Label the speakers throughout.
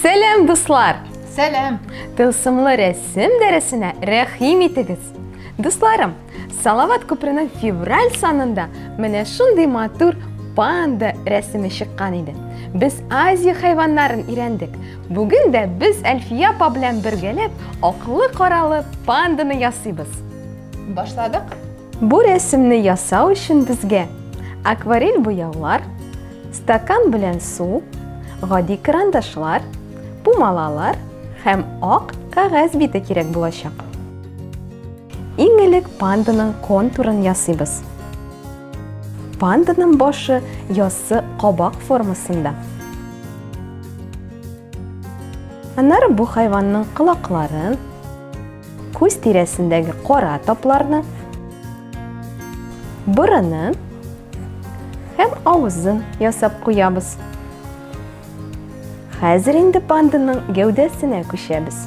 Speaker 1: Сәләм, дуслар! Сәләм!
Speaker 2: Тылсымлы
Speaker 1: рәсем дәресенә рәхим итегез. Дусларым, Салават күперенең февраль санында менә шундый матур панда рәсеме чыккан иде. Без Азия хайваннарын өйрәндек. Бүген дә без Әлфия апа белән бергәләп аклы-каралы панданы ясыйбыз. Башладык.
Speaker 2: Бу
Speaker 1: рәсемне ясау өчен безгә акварель буяулар, стакан белән су, гади карандашлар, пумалалар һәм ак кәгазь бите кирәк булачак. Иң элек панданың контурын ясыйбыз. Панданың башы яссы кабак формасында. Аннары бу хайванның кылакларын, күз тирәсендәге кара тапларны, борыны һәм авызын ясап куябыз. Хәзер инде панданың гәүдәсенә күчәбез.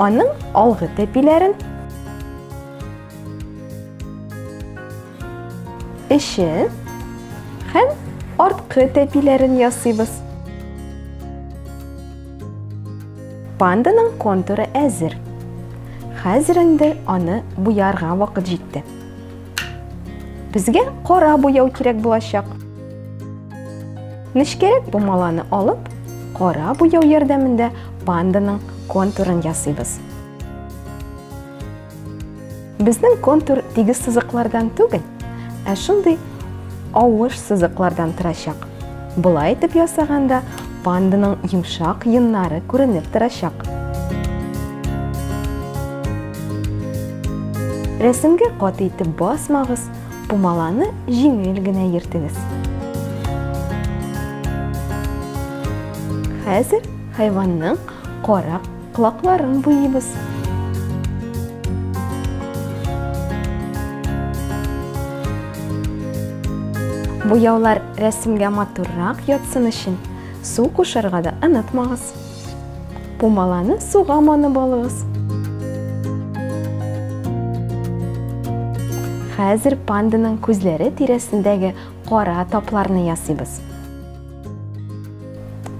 Speaker 1: Аның алгы тәпиләрен, эче һәм арткы тәпиләрен ясыйбыз. Панданың контуры әзер. Хәзер инде аны буярга вакыт җитте. Безгә кара буяу кирәк булачак. Нечкәрәк помаланы алып, кара буяу ярдәмендә панданың контурын ясыйбыз. Безнең контур тигез сызыклардан түгел, ә шундый авыш сызыклардан торачак. Болай итеп ясаганда Панданың йомшак йоннары күренеп торачак. Рәсемгә каты итеп басмагыз, пумаланы җиңел генә ертегез. Хәзер хайванның кара Колакларын буйыбыз. Буяулар рәсемгә матуррак ятсын өчен су кушарга да онытмагыз. Пумаланы суга манып алыгыз. Хәзер панданың күзләре тирәсендәге кара тапларны ясыйбыз.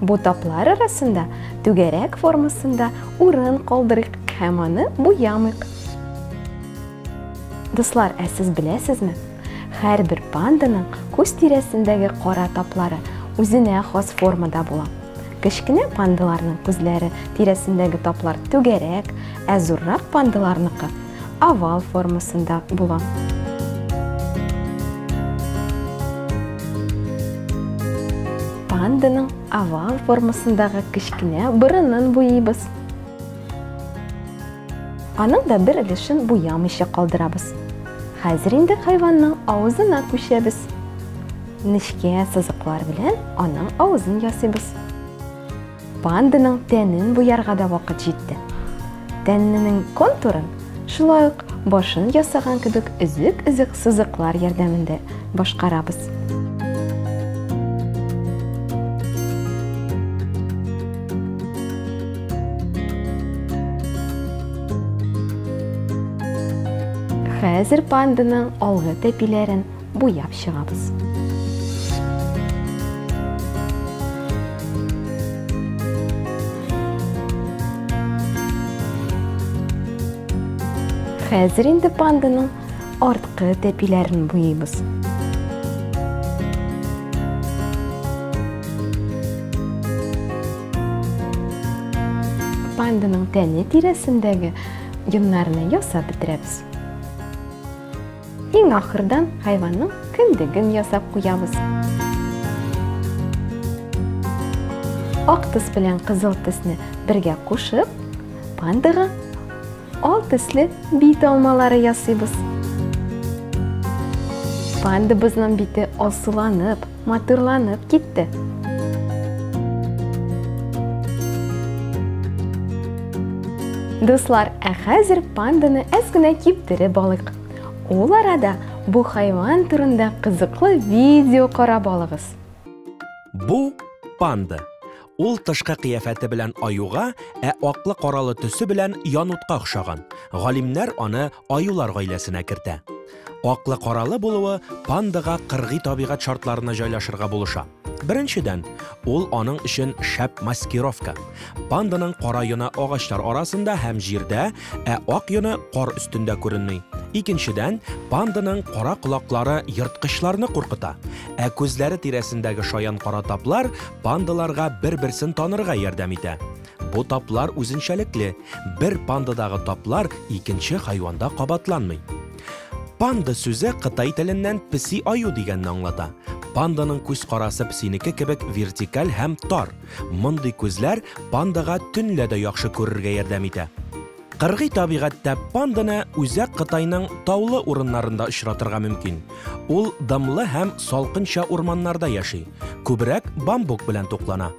Speaker 1: Бу таплар арасында түгәрәк формасында урын калдырыйк һәм аны буямыйк. Дуслар, ә сез беләсезме? Һәрбер панданың күз тирәсендәге кара таплары үзенә хас формада була. Кечкенә пандаларның күзләре тирәсендәге таплар түгәрәк, ә зуррак пандаларныкы овал формасында була. Панданың овал формасындагы кечкенә борынын буйыйбыз. Аның да бер өлешен буямыйча калдырабыз. Хәзер инде хайванның авызына күчәбез. Нечкә сызыклар белән аның авызын ясыйбыз. Панданың тәнен буярга да вакыт җитте. Тәнненең контурын шулай ук башын ясаган кебек өзек-өзек сызыклар ярдәмендә башкарабыз. Хәзер панданың алгы тәпиләрен буяп чыгабыз. Хәзер инде панданың арткы тәпиләрен буйыйбыз. Панданың тәне тирәсендәге йоннарны ясап бетерәбез. Иң ахырдан хайванның кендеген ясап куябыз. Ак төс белән кызыл төсне бергә кушып, пандага ал төсле бит алмалары ясыйбыз. Пандабызның бите алсуланып, Матурланып китте. Дуслар, ә хәзер панданы әз генә киптереп алыйк. Ул арада бу хайван турында кызыклы видео карап алыгыз. Бу
Speaker 3: панда. Ул тышкы кыяфәте белән аюга, ә аклы-каралы төсе белән янутка охшаган. Галимнәр аны аюлар гаиләсенә кертә. Аклы-каралы булуы пандага кыргый табигать шартларына җайлашырга булыша. Беренчедән, ул аның өчен шәп маскировка. Панданың кара йона агачлар арасында һәм җирдә, Ә ак йоны кар өстендә күренми. Икенчедән, панданың кара колаклары ерткычларны куркыта. Ә күзләре тирәсендәге шаян кара таплар пандаларга бер-берсен танырга ярдәм итә. Бу таплар үзенчәлекле. Бер пандадагы таплар икенче хайванда кабатланмый. Панда сүзе кытай теленнән песи аю дигәнне аңлата. Панданың күз карасы песинеке кебек вертикаль һәм тар. Мондый күзләр пандага төнлә дә яхшы күрергә ярдәм итә. Кыргый табигатьтә панданы Үзәк Кытайның таулы урыннарында очратырга мөмкин. Ул дымлы һәм салкынча урманнарда яши, күбрәк бамбук белән туклана.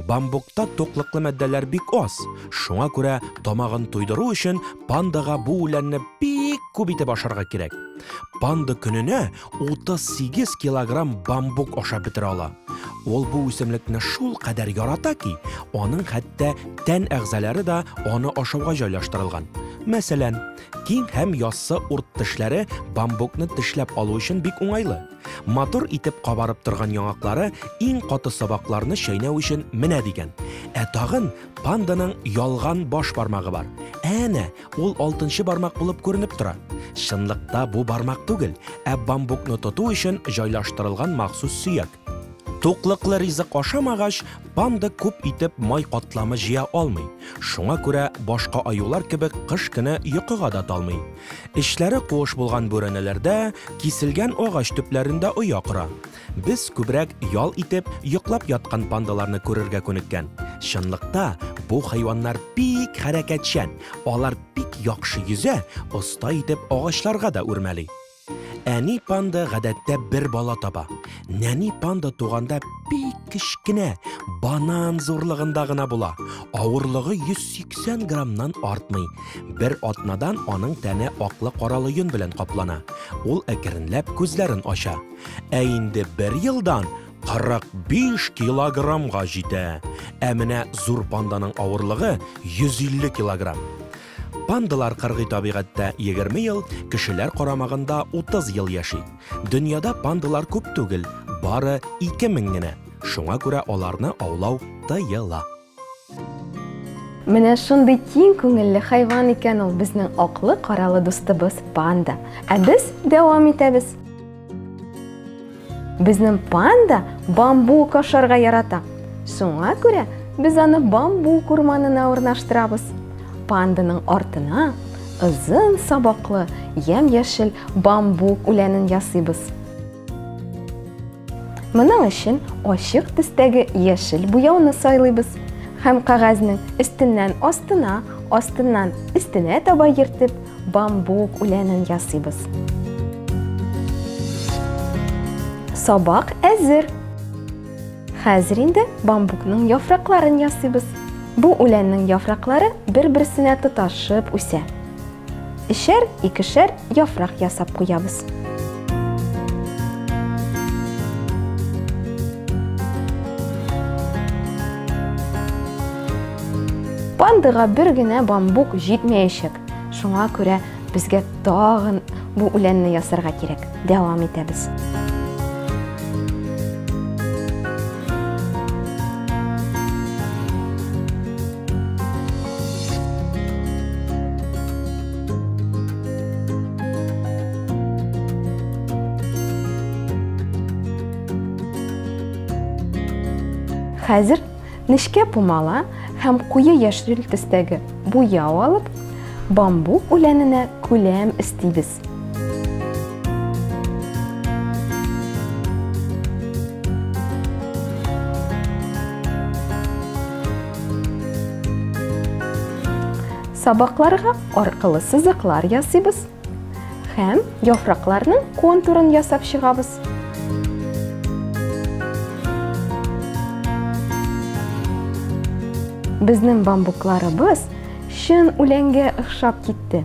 Speaker 3: Бамбукта туклыклы матдәләр бик аз, шуңа күрә тамагын туйдыру өчен пандага бу үләнне бик күп итеп ашарга кирәк. Панда көненә 38 килограмм бамбук ашап бетерә ала. Ул бу үсемлекне шул кадәр ярата ки, аның хәтта тән әгъзалары да аны ашауга җайлаштырылган. Мәсәлән, киң һәм яссы урт тешләре бамбукны тешләп алу өчен бик уңайлы. Матур итеп кабарып торган яңаклары иң каты сабакларны чәйнәү өчен менә дигән. Ә тагын панданың ялган баш бармагы бар. Әнә, Ул алтынчы бармак булып күренеп тора. Чынлыкта бу бармак түгел, ә бамбукны тоту өчен җайлаштырылган махсус сөяк. Туклыклы ризык ашамагач, панда күп итеп май катламы җыя алмый. Шуңа күрә башка аюлар кебек кыш көне йокыга да талмый. Эчләре куыш булган бүрәнәләрдә, киселгән агач төпләрендә оя кора. Без күбрәк ял итеп, йоклап яткан пандаларны күрергә күнеккән. Чынлыкта, бу хайваннар бик хәрәкәтчән, алар бик яхшы йөзә, оста итеп агачларга да үрмәли. Әни панда гадәттә бер бала таба. Нәни панда туганда бик кечкенә, банан зурлыгында гына була. Авырлыгы 180 граммнан артмый. Бер атнадан аның тәне аклы-каралы йон белән каплана. Ул әкренләп күзләрен ача. Ә инде бер елдан 45 килограммга җитә. Ә менә зур панданың авырлыгы 150 килограмм. Пандалар кыргый табигатьтә 20 ел, кешеләр карамагында 30 ел яши. Дөньяда пандалар күп түгел, бары 2000 генә. Шуңа күрә аларны аулау тыела.
Speaker 1: Менә шундый киң күңелле хайван икән ул безнең аклы каралы дустыбыз панда. Ә без дәвам итәбез. Безнең панда бамбук ашарга ярата. Шуңа күрә без аны бамбук урманына урнаштырабыз. Панданың артына озын сабаклы, ямь-яшел бамбук үләнен ясыйбыз. Моның өчен ачык төстәге яшел буяуны сайлыйбыз һәм кәгазьнең өстеннән астына, астыннан өстенә таба ертып, бамбук үләнен ясыйбыз. Сабак әзер. Хәзер инде бамбукның яфракларын ясыйбыз. Бу үләннең яфраклары бер-берсенә тоташып үсә. Эчәр, икешәр яфрак ясап куябыз. Пандыга бер генә бамбук җитмәячәк. Шуңа күрә безгә тагын бу үләнне ясарга кирәк. дәвам итәбез. Хәзер нечкә пумала һәм куе яшел төстәге буяу алып, бамбук үләненә күләм истибез. Сабакларга аркылы сызыклар ясыйбыз һәм яфракларның контурын ясап чыгабыз. Безнең бамбукларыбыз чын үләнгә охшап китте.